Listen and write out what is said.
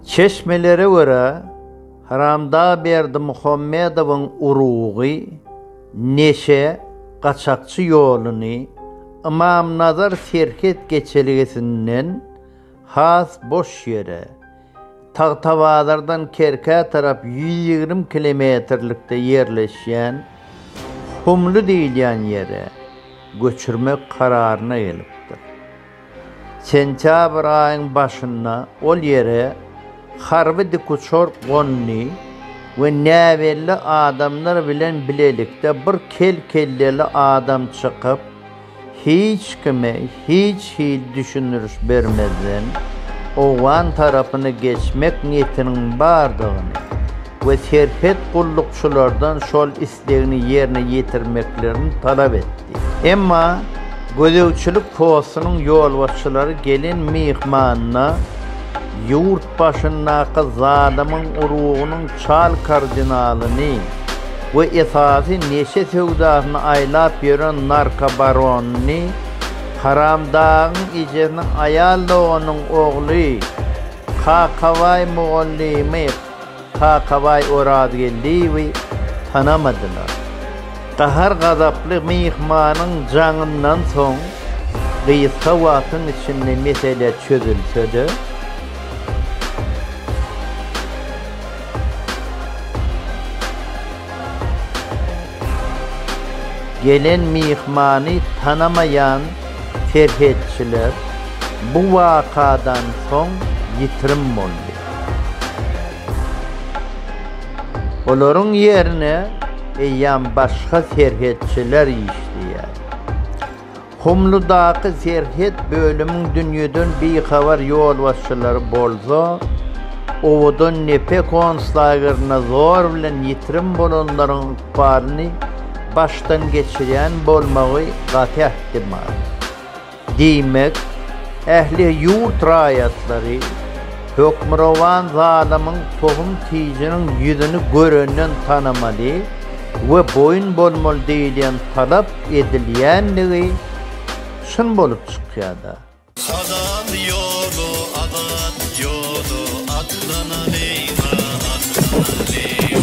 Çeşmelere görä, Haramdag Berdimuhamedowyň urugy neşe, gaçakçy ýoluny Ymamnazar serhet geçelgesinden has boş ýere, Tagtabazardan Kerkä tarap ýüz ýigrimi kilometrlikde ýerleşýän Humly diýilýän ýere göçürmek kararyna gelipdir. Sentýabr aýyň başynda ol ýere harby dikuçar gondy we näbelli adamlar bilen bilelikde bir kel-kelleli adam çykyp, hiç kime hiç hili düşündiriş bermezden, owgan tarapyna geçmek niýetiniň bardygyny we Serhet gullukçylardan şol islegini ýerine ýetirmeklerini talap etdi. Emma gözegçilik postunyň ýolbaşçylary gelen myhmanyna ýurt başyndaky zalymyň urugynyň çal kardinalyny we esasy neşe söwdasyny aýlap ýören narkobaronyny, Haramdagyň ejesiniň aýal doganynyň ogly, Kakabaý mugallymy Kakabaý Orazgeldiýewi tanamadylar. Gahar-gazaply myhmanyň jaňyndan soň gysga wagtyň içinde mesele çözülse-de, gelen myhmany tanamaýan serhetçiler bu wakadan soň ýitirim boldy. Olaryň ýerine eýýäm başga serhetçiler işleýär. Humludaky serhet bölümiň dünýeden bihabar ýolbaşçylary bolsa, owadan Nepe konslagerinde zor bilen ýitirim bolanlaryň ykbalyny başdan geçirýän bolmagy gaty ähtimal. Diýmek, ähli ýurt raýatlary Hökmürowan zalymyň tohum-tijiniň ýüzüni görenden tanamaly we boýun bolmaly diýilýän talap edilýändigi çyn bolup çykýar-da. Halal ýoly azat ýoly atlanalyň-a, atlanalyň.